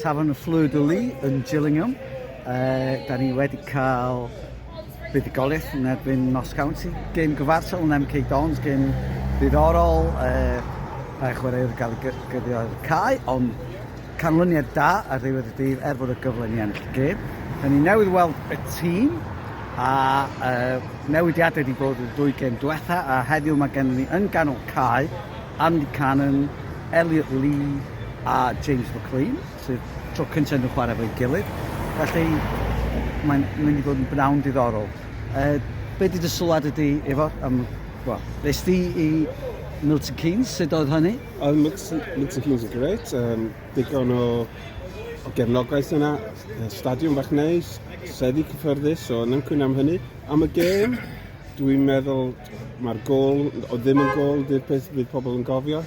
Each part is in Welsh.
Tafarn y Fleur de Lis yn Gillingham. Uh, da ni wedi cael buddugoliaeth yn erbyn Nos County. Gêm gyfarsol yn MK Dons, gêm ddiddorol. Uh, Rhaid chwaraewr gael gyda'r cae, ond canlyniad da ar ddiwedd y dydd er bod y gyfle ni ennill y gêm. Da ni newydd weld y tîm a uh, newidiadau wedi bod y ddwy gêm diwetha a heddiw mae gennym ni yn ganol cae Andy Cannon, Elliot Lee a James McClean, sydd tro cyntaf iddyn nhw chwarae efo'i gilydd. Felly, mae'n mynd i fod yn bnawn diddorol. Uh, be di dy sylwad ydi, Ifor? Um, well, nes di i Milton Keynes, sut oedd hynny? Oedd Milton, Milton Keynes yn gret, um, digon o, o gefnogaeth yna, stadiwm bach neis, seddi cyffyrddus, so yn ymcwyn am hynny. Am y gêm, dwi'n meddwl Mae'r gol, o ddim yn gol, dy'r peth bydd pobl yn gofio.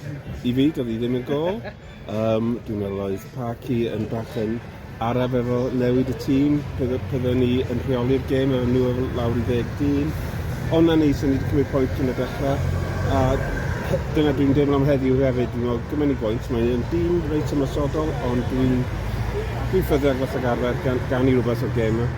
I fi, doedd hi ddim yn gol. Um, dwi'n meddwl oedd Parky yn bach yn araf efo newid y tîm. Byddwn ni yn rheoli'r gêm efo nhw efo lawr i ddeg dyn. Ond na ni, sy'n ni wedi cymryd pwynt cyn y dechrau. A dyna dwi'n deimlo am heddiw hefyd. Dwi'n meddwl, gymryd ni bwynt, mae'n dîm reit ymwysodol, ond dwi'n dwi ffyddiog fas ag arfer gan, gan i rhywbeth o'r gêm yma.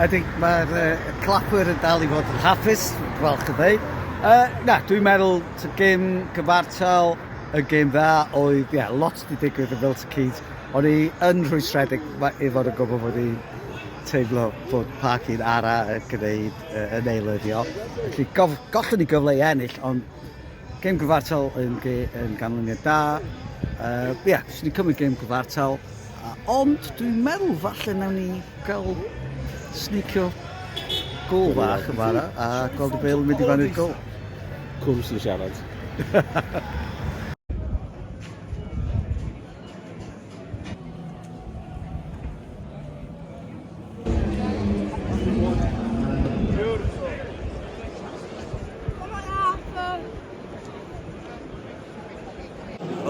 Ydy, mae'r uh, Clapwyr yn dal i fod yn hapus, dwi'n falch o ddeud. Uh, na, dwi'n meddwl, y gêm gyfartal, y gêm dda oedd, ie, yeah, lot di digwydd yn Milton Keynes. O'n i yn rhwystredig i fod yn gwybod bod i'n teimlo bod parc un ara yn gwneud uh, yn eilyddio. Felly gof, gollwn ni gyfle i ennill, ond Gêm gyfartal yn, ge, yn ganlyniad da. Uh, ie, yeah, swn i'n cymryd gêm gyfartal. Uh, ond dwi'n meddwl falle nawn ni gael snicio gol fach yn fara a gweld y bel yn mynd i fan i'r gol. Cwm sy'n siarad.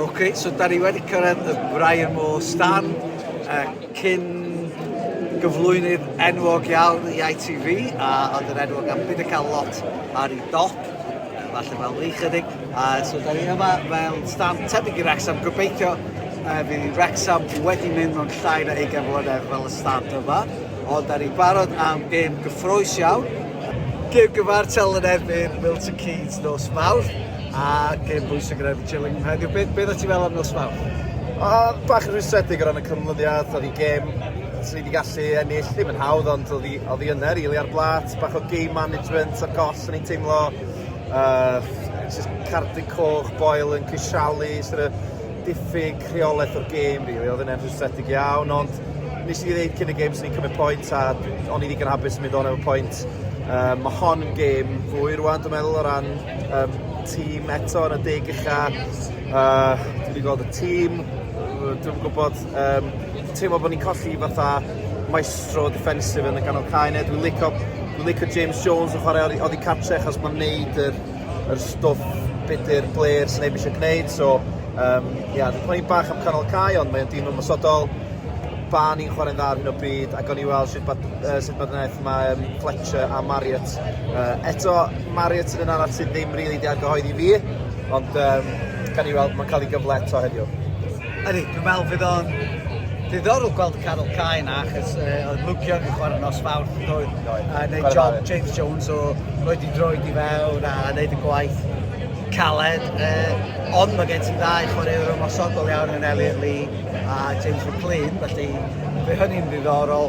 Ok, so da ni wedi cyrraedd y Brian Moore stand uh, cyn gyflwynydd enwog iawn i ITV a oedd yn enwog am byd y cael lot ar ei dop, falle fel ni chydig. A so da ni yma mewn stand tebyg i Wrexham, gobeithio uh, fydd Wrexham wedi mynd mewn llai na 20 mlynedd fel y stand yma, ond da ni barod am gêm gyffroes iawn. Gêm gyfartal yn erbyn Milton Keynes nos mawr, a gêm bwysig yn erbyn Chillingham heddiw. Beth, beth o ti fel am nos mawr? A, bach yn rhwystredig o ran y cymlyddiad, oedd i gêm sydd wedi gallu ennill, ddim yn hawdd, ond oedd i, oedd i yna, rili, ar blat, bach o game management a gos yn ei teimlo Yy jyst cardiau coch, Boyle yn crisialu, sort of diffyg rheolaeth o'r gêm rili, really. oedd yna'n rhwystredig iawn, ond nes i ddeud cyn y gêm sy'n ni'n cymryd pwynt a o'n i ddigon hapus yn mynd o'n efo pwynt. Um, mae hon yn gêm fwy rwan, dwi'n meddwl, o ran um, tîm eto yn y deg ucha. Uh, dwi'n gweld y tîm, dwi'n gwybod Yym teimlo bo' ni'n colli fatha maestro defensive yn y ganol cae 'ne dwi'n lico dwi'n lico James Jones yn chware oddi oddi cartre achos ma'n neud yr yr stwff be' 'di'r blêr sy neb isio gneud so yym ia dwi'n poeni bach am canol cae ond mae o'n dîm ymosodol. Barn ni'n chware'n dda ar hyn o bryd a gawn ni weld shwt ma' yy sut ma' gwneuth ma' yym Fletcher a Marriott yy eto Marriott yn un arall sydd ddim rili 'di argyhoeddi fi ond yym gawn ni weld ma'n ca'l 'i gyfle eto heddiw. Ydy, dwi'n meddwl fydd o'n ddiddorol gweld y canol cae yna, achos uh, oedd Luke Young yn chwarae nos fawr, doedd, a wneud job James Jones o roed i droed i fewn a wneud y gwaith caled. Uh, ond mae gen ti ddau chwaraewr ymosodol iawn yn Elliot Lee a James McLean, felly fe hynny'n ddiddorol.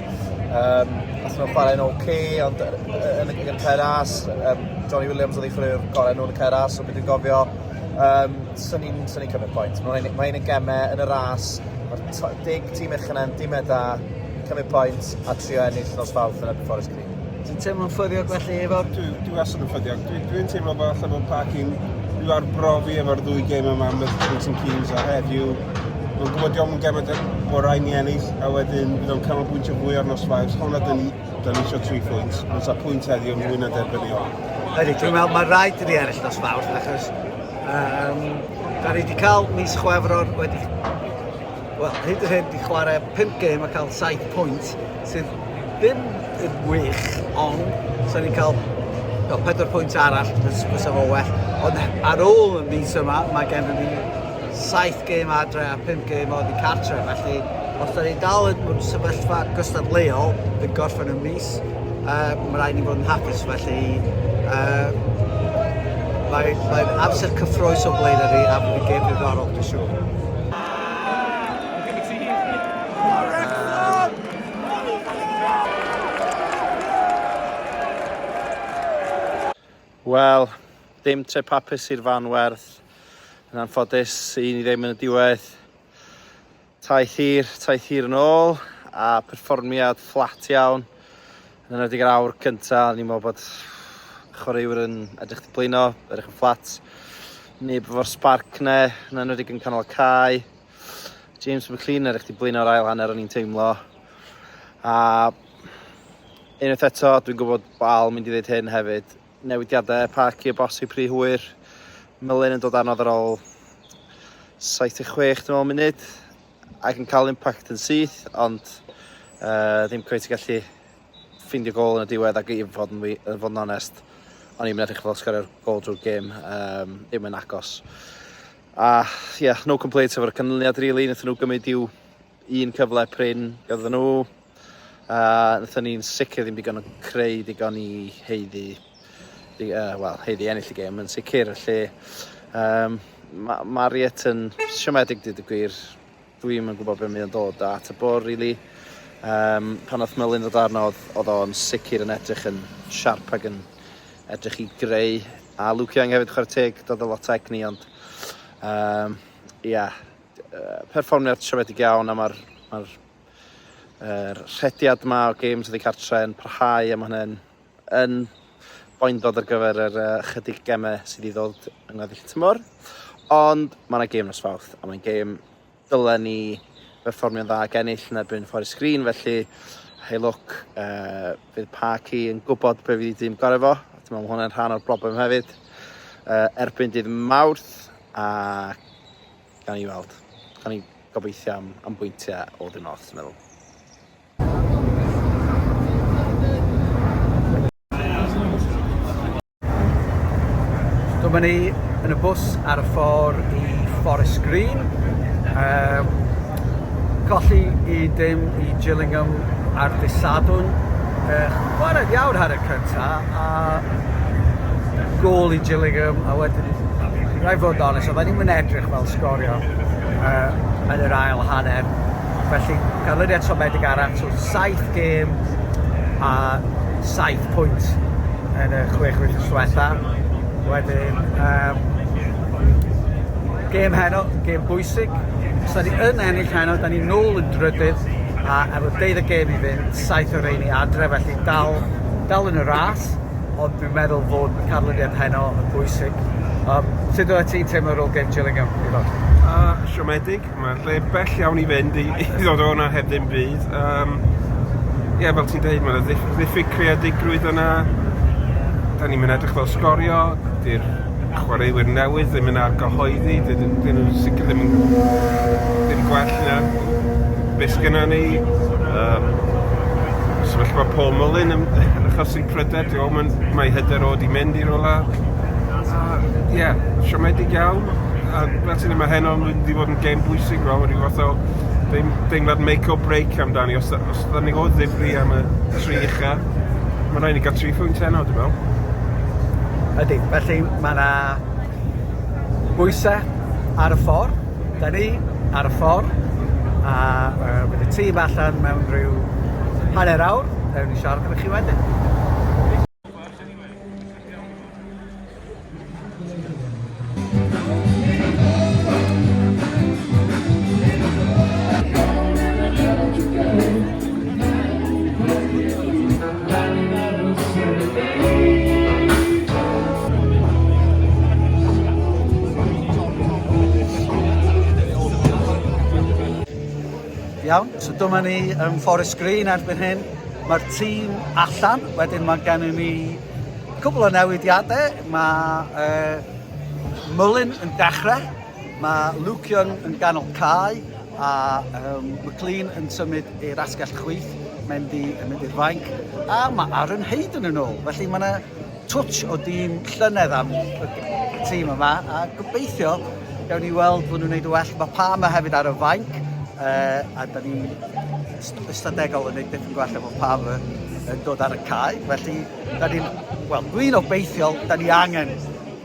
Um, Nath nhw'n chwarae'n OK, ond yn y gig yn Ceras, um, Johnny Williams oedd ei chwarae'r gorau nhw'n Ceras, so beth dwi'n gofio, um, sy'n ni'n sy'n ni'n cymryd pwynt. Mae'n ma ein gemau yn y ras, mae'r dig tîm eich yna'n dimau da, cymryd pwynt a trio ennill nos fawrth yn erbyn Forest Green. Ti'n teimlo'n ffyddiog felly efo... Dwi, dwi wastad yn ffyddiog. Dwi, dwi'n teimlo bod allan o'r parc i'n i'w arbrofi efo'r ddwy gêm yma am y Milton Keynes a heddiw. Mae'n gwybod diolch yn gemau da bod rhaid ni ennill a wedyn bydd o'n cael pwynt o fwy ar nos Fawrth. Hwna dyn ni, dyn ni eisiau tri phwynt. Mae'n sa pwynt heddiw yn fwy na derbyn ni o. Ydy, dwi'n meddwl mae rhaid i ni ennill nos Fawrth achos um, da ni wedi cael mis chwefror wedi wel, hyd yn hyn 'di chwarae pump gêm a cael saith pwynt, sydd ddim yn wych, ond so ni'n cael no, pedwar pwynt arall, fysa fo well. Ond ar ôl y mis yma, mae gen i saith gêm adre a pump gêm o ddi cartre, felly os da ni'n dal yn bod sefyllfa gystadleuol yn gorffen y mis, uh, mae rhaid ni fod yn hapus, felly uh, mae'n mae amser cyffroes o blaen yr i a bod yn gêm diddorol, dwi'n siŵr. Wel, dim tre papus i'r fan werth. Yn anffodus, i ni ddim yn y diwedd. Taith hir, taith hir yn ôl, a perfformiad fflat iawn. Yn enwedig yr awr cynta, o'n i'n meddwl bod chwaraewyr yn edrych di blino, edrych yn fflat. Neb efo'r sparc ne, yn enwedig yn canol y cae. James McLean edrych di blino'r ail hanner o'n i'n teimlo. A unwaith eto, dwi'n gwybod bod Al mynd i ddweud hyn hefyd, newidiadau Parky a Bosi pri hwyr. Mylun yn dod anodd ar ôl 76 dwi'n meddwl munud. ac yn cael impact yn syth, ond uh, ddim cweith gallu ffeindio gol yn y diwedd ac i fod yn, fod yn onest, o'n i'n edrych fel sgorio'r gol drwy'r gêm, um, ddim yn agos. A, ie, yeah, no complaints efo'r canlyniad, really, wnaethon nhw gymryd i'w un cyfle prin gyda nhw. A nathon ni'n sicr ddim digon o creu digon i heiddi, di, uh, well, heiddi ennill y gêm yn sicr. Lle, um, mae Mariet yn siomedig dyd y gwir. Dwi'n yn gwybod beth mae'n dod at y bwr, really. Um, pan oedd Melin ddod arno, oedd o'n sicr yn edrych yn siarp ac yn edrych i greu. A Luke Young hefyd chwarae teg, dod o lot egni, ond... Um, ia, yeah, perfformiad siomedig iawn a mae'r ma Yr rhediad yma o games ydi cartre yn parhau a mae hynny'n yn boendod ar gyfer yr uh, chydig gemau sydd i ddod yng ngweddill tymor. Ond mae yna gêm nos fawth a mae'n gêm dylen ni berfformio'n dda ag ennill yn erbyn Forest Green felly hei lwc uh, bydd Parky yn gwybod be fydd i dîm gorau fo a dwi'n meddwl mae hwnna'n rhan o'r broblem hefyd uh, erbyn dydd Mawrth a Gawn ni weld. Gawn ni gobeithio am, am bwyntiau o ddim ots, dwi'n meddwl. Dyma ni yn y bws ar y ffordd i Forest Green. Um, golli i dim i Gillingham ar dysadwn. Uh, chwarae ddiawr ar y cyntaf, a gôl i Gillingham a wedyn rhaid fod yn onest oedden ni'm yn edrych fel sgorio uh, yn yr ail hanner felly ganlyniad siomedig arall so 7 gêm a 7 pwynt yn y chwech wythnos diwetha wedyn um, gêm heno, gêm bwysig os ni yn ennill heno, da ni nôl yn drydydd a efo deudd y gêm i fynd, saith o reini adre felly dal dal yn y ras, ond dwi'n meddwl fod y canlyniad heno yn bwysig. Um, sut oeddet ti'n teimlo ar ôl gêm Gillingham, Ivan? Uh, siomedig, mae'n lle bell iawn i fynd i, i ddod o'na heb ddim byd. Um, Ie, yeah, fel ti'n dweud, mae'n ddiff ddiffyg creadigrwydd yna. Da ni'n mynd edrych fel sgorio, di'r chwaraewyr newydd ddim yn argyhoeddi, dydyn dyn nhw'n sicr ddim yn dim gwell na beth sgynnon ni. Yym sefyllfa Paul Mullin yn yn achosi pryder, ti'n gwbod, ma'n mae hyder o 'di mynd i rywle. A ie, yeah, siomedig iawn a fel ti'n dweud ma' heno yn mynd i fod yn gêm bwysig fel ma' ryw fath o deim- deimlad make or break amdani os y- os ydan ni o ddifri am y tri ucha Ma' raid ni ga'l tri phwynt heno dwi me'wl. Ydi, felly ma' 'na bwyse ar y ffor. 'Da ni ar y ffor a yy bydd y tîm allan mewn rhyw hanner awr, newn ni siarad efo chi wedyn. Iawn, so dyma ni yn Forest Green erbyn hyn. Mae'r tîm allan, wedyn mae gennym ni Cwbl o newidiadau, mae uh, Mullin yn dechrau, mae Luke Young yn ganol cae a um, McLean yn symud i'r asgell chwith, mae'n mynd i'r fainc, a mae Aaron Hayden yn ôl. Felly mae yna twtch o dîm llynedd am y tîm yma, a gobeithio gawn ni weld bod nhw'n gwneud y well. Mae Palmer hefyd ar y fainc, uh, a da ni ystadegol yn neud yn gwell efo pawb yn dod ar y cae. Felly, da ni'n, wel, dwi'n obeithiol, da ni angen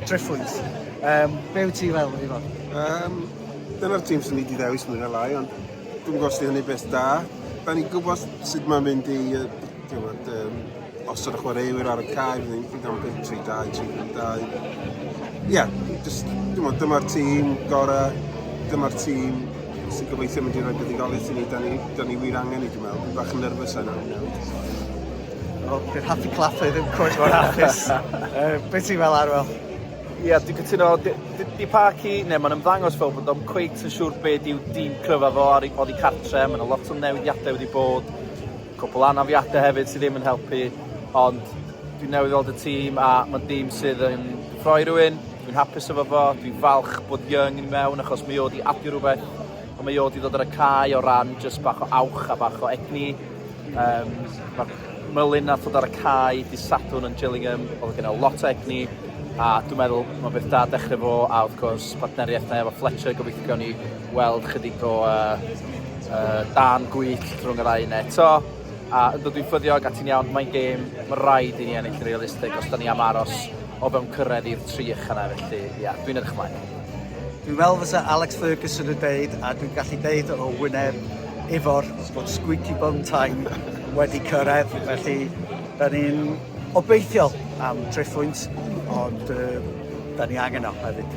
triffwys. Um, be wyt ti'n meddwl, Ifan? Um, dyna'r tîm sy'n ni di ddewis mwy na lai, ond dwi'n gwybod sy'n hynny beth da. Da ni'n gwybod sut mae'n mynd i, uh, um, Os yw'r chwaraewyr ar y cae, bydd hi'n ddigon byth 3-2, 3-2. Ie, yeah, just, dwi'n dyma'r tîm gorau, dyma'r tîm sy'n gobeithio mynd i roi buddugoliaeth i ni, da ni, da ni wir angen i, dwi'n meddwl. Dwi'n bach yn nerfus yna. Wel, bydd Happy Clapper ddim cwrt mor hapus. uh, Be ti'n fel arwel? Ie, yeah, dwi'n cytuno, di Parky, neu mae'n ymddangos fel bod o'n cweit yn siŵr beth yw dîm cryfa fo ar ei bod i cartre, mae'n lot o newidiadau wedi bod, Cwpwl anafiade hefyd sy ddim yn helpu ond dwi newydd weld y tîm a ma'n dîm sydd yn rhoi rhywun, dwi'n hapus efo fo, dwi'n falch bod Young yn mewn achos mi o 'di adio rhywbeth a mae o 'di dod ar y cae o ran jyst bach o awch a bach o egni yym ma'r Mullin nath dod ar y cae dy' Sadwrn yn Gillingham o'dd gynno lot o egni a dwi'n meddwl ma' beth da dechre fo a wrth gwrs partneriaeth mae efo Fletcher gobeithio gawn ni weld chydig o uh, uh, dan gwyll rhwng y ddau eto. A ynddo dwi'n ffyddiog a ti'n iawn, mae'n gêm, mae rhaid i ni ennill yn realistig os da ni am aros o fewn cyrraedd i'r tri ychan ar felly, ia, dwi'n edrych ymlaen. Dwi'n fel fysa Alex Ferguson yn deud, a dwi'n gallu deud o wyneb efo'r bod squeaky bum time wedi cyrraedd, felly da ni'n obeithiol am trefwynt, ond uh, da ni angen o hefyd.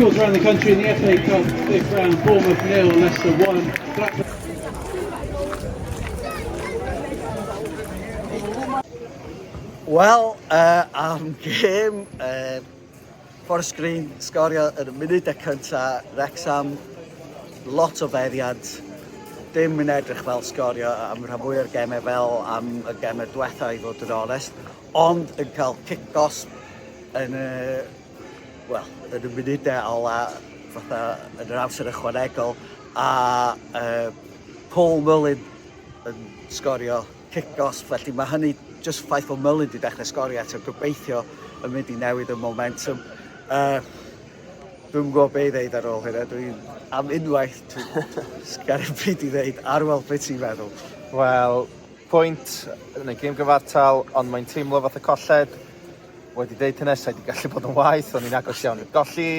Schools around the country in the FA Cup, fifth round, Bournemouth nil, Leicester 1, Blackburn... Wel, uh, am gêm, uh, Forest Green sgorio yn y munud y cynta, Rexham, lot o feddiad, dim yn edrych fel sgorio am rhan fwy o'r gemau fel am y gemau diwetha i fod yn onest. Ond yn cael cic-os yn y, wel, yn y munudau ola, fatha yn yr amser ychwanegol, a uh, Paul Mullin yn sgorio cic-os, felly mae hynny just ffaith o Mullin wedi dechrau sgorio eto, gobeithio yn mynd i newid y momentum. Uh, Dwi'n gwybod be i ddeud ar ôl hynna. Dwi'n am unwaith sgar y pryd i ddeud ar weld beth ti'n meddwl. Wel, pwynt yn y gêm gyfartal, ond mae'n teimlo fath y colled. Wedi dweud hynny, sa'i wedi gallu bod yn waith, ond ni'n agos iawn i'r golli.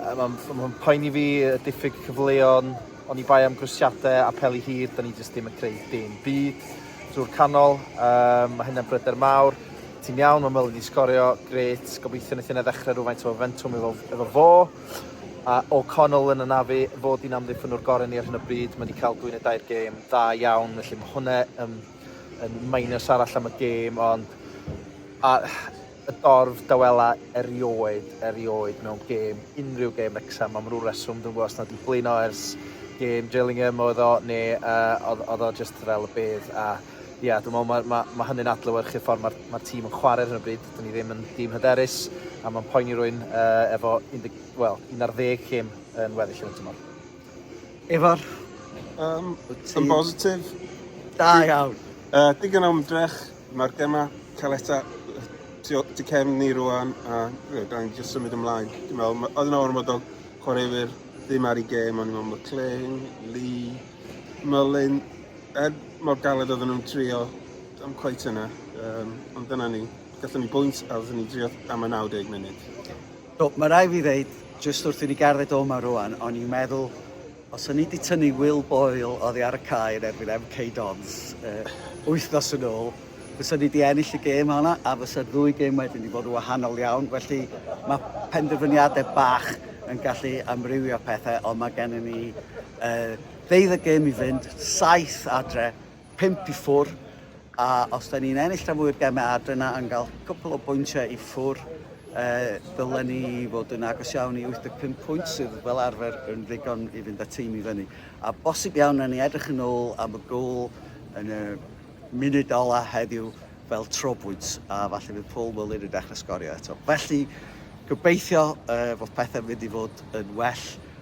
Mae'n ma poeni fi y diffyg cyfleon, ond i bai am grwsiadau a peli hir, da ni jyst ddim yn creu dim byd drwy'r canol. Um, mae hynna'n bryder mawr. Ti'n iawn, mae Mylyn i sgorio, gret. Gobeithio wnaeth yna ddechrau rhywfaint o fentwm efo, efo fo. A O'Connell yn anafu fod hi'n amddiffynwr gorau ni ar hyn o bryd. Mae wedi cael dwy neu dair gêm dda iawn, felly mae hwnna yn, yn minus arall am y gêm, ond a, y dorf dawela erioed, erioed mewn gêm, unrhyw gêm Wrexham, am rhyw reswm, dwi'n gwybod os nad i blino ers gêm Gillingham oedd o, neu uh, oedd, oedd o just fel y bedd, a Ie, dwi'n meddwl mae, mae, mae hynny'n adlewyrchu ffordd mae'r mae tîm yn chwarae ar hyn o bryd. Dyn ni ddim yn dîm hyderus a mae'n poeni rwy'n uh, efo 10, well, 11 cym yn weddill yn y tymor. Efo'r... Um, yn bositif. Da iawn. Uh, digon o ymdrech, mae'r gemau cael eta tu cefn ni rwan a yeah, da ni'n just symud ymlaen. Dwi'n meddwl, oedd yna ormod o chwaraewyr ddim ar ei gêm, ond i'n meddwl McLean, Lee, Mullin, Er mor galed oedden nhw'n trio, am cweit yna, um, ond dyna ni. Gallwn ni bwynt a oedden ni'n trio am y 90 munud. So, mae rai fi ddeud, jyst wrth i ni gardded o yma rwan, o'n i'n meddwl, os o'n i wedi tynnu Will Boyle oddi ar y cae yn erbyn MK Dons uh, wythnos yn ôl, fysa ni wedi ennill y gêm honna a fysa'r ddwy gêm wedyn wedi bod yn wahanol iawn. Felly mae penderfyniadau bach yn gallu amrywio pethau, ond mae gennym ni uh, Bydd y gêm i fynd, saith adre, pump i ffwr, a os da ni'n ennill rhan fwy o'r gemau adre na yn cael cwpl o bwyntiau i ffwr, eh, dylen ni fod yn agos iawn i 85 pwynt sydd fel arfer yn ddigon i fynd â tîm i fyny. A bosib iawn na ni edrych yn ôl am y gôl yn y munud ola heddiw fel trobwynt, a falle bydd Paul Mullin yn dechrau sgorio eto. Felly, gobeithio eh, fod pethau'n mynd i fod yn well